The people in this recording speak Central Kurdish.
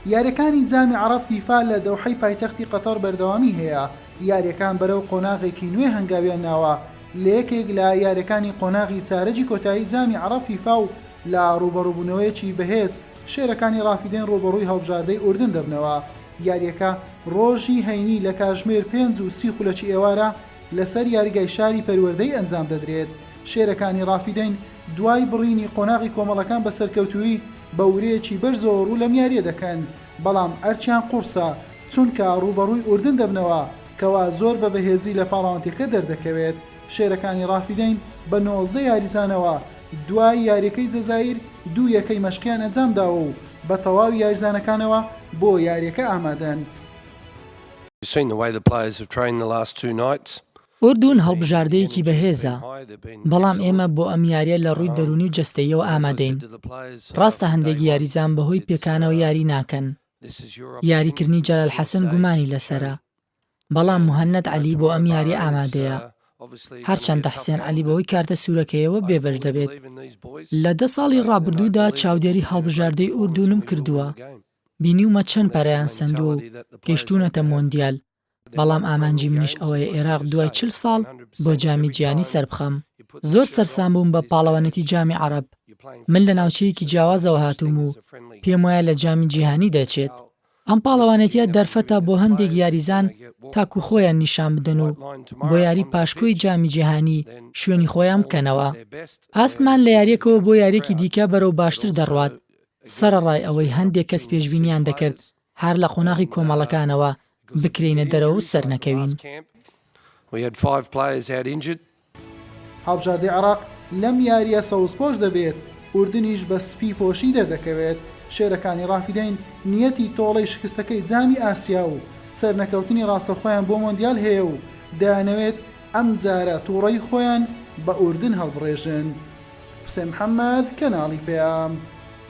یارییەکانی جامی عەڕەب فیفا لە دەوحەی پایتەختی قەتەڕ بەردەوامی هەیە، یارییەکان بەرەو قۆناغێکی نوێ هەنگاویان ناوە لە یەکێک لە یارییەکانی قۆناغی چارەگی کۆتایی جامی عەڕەب فیفا و لە ڕووبەڕووبوونەوەیەکی بەهێز شێرەکانی ڕافیدەین ڕووبەڕووی هەڵبژاردەی ئوردن دەبنەوە یارییەکە ڕۆژی هەینی لە کاژمێر پێنج و سی خولەکی ئێوارە لەسەر یاریگای شاری پەروەردەی ئەنجام دەدرێت شێرەکانی ڕافیدەین دوای بڕینی قۆناغی کۆمەڵەکان بە سەرکەوتوویی، بە ورەیەکی بەرزەوە ڕوو لەم یارییە دەکەن، بەڵام ئەرکیان قوڕسە، چونکە ڕووبەڕووی ئوردن دەبنەوە، کەوا زۆر بە بەهێزی لە پاڵاوتنگەکە دەردەکەوێت. شێرەکانی ڕافیدەین بە نۆزدە یاریزانەوە دوای یارییەکەی جەزائیر دوو یەکەی مەشقیان ئەنجامداوە و بە تەواوی یاریزانەکانەوە بۆ یارییەکە ئامادەن. ئوردون هەڵبژاردەیەکی بەهێزە، بەڵام ئێمە بۆ ئەم یارییە لە ڕووی دەروونی و جەستەییەوە ئامادەین. ڕاستە هەندێک یاریزان بەهۆی پێکانەوە یاری ناکەن. یاریکردنی جەلال حەسەن گومانی لەسەرە، بەڵام موهەنەد عەلی بۆ ئەم یارییە ئامادەیە. هەرچەندە حسێن عەلی بەهۆی کارتە سوورەکەیەوە بێبەش دەبێت. لە دە ساڵی ڕابردوودا چاودێری هەڵبژاردەی ئوردونم کردووە، بینیومە چەند پەرەیان سەندووە و گەیشتوونەتە مۆندیال. بەڵام ئامانجی منیش ئەوەیە ئێراق دوای چل ساڵ بۆ جامی جیانی سەربخەم. زۆر سەرسام بووم بە پاڵەوانێتی جامی عەڕەب. من لە ناوچەیەکی جیاوازەوە هاتووم و پێم وایە لە جامی جیهانی دەچێت. ئەم پاڵەوانێتیە دەرفەتە بۆ هەندێک یاریزان تاکو خۆیان نیشان بدەن و بۆ یاری پاشکۆی جامی جیهانی شوێنی خۆیان بکەنەوە. ئاستمان لە یاریەکەوە بۆ یاریەکی دیکە بەرەو باشتر دەڕوات، سەرەڕای ئەوەی هەندێک کەس پێشبینیان دەکرد هەر لە قۆناغی کۆمەڵەکانەوە بکرێینە دەرەوە و سەرنەکەوین. هەڵبژاردەی عێراق لەم یارییە سەوزپۆش دەبێت، ئوردنیش بە سپی پۆشی دەردەکەوێت، شێرەکانی رافیدەین نیەتی تۆڵەی شکستەکەی جامی ئاسیا و سەرنەکەوتنی راستەوخۆیان بۆ مۆندیال هەیە و دەیانەوێت ئەمجارە توڕەی خۆیان بە ئوردن هەڵبڕێژن. حوسێن محەمەد، کەناڵی پەیام.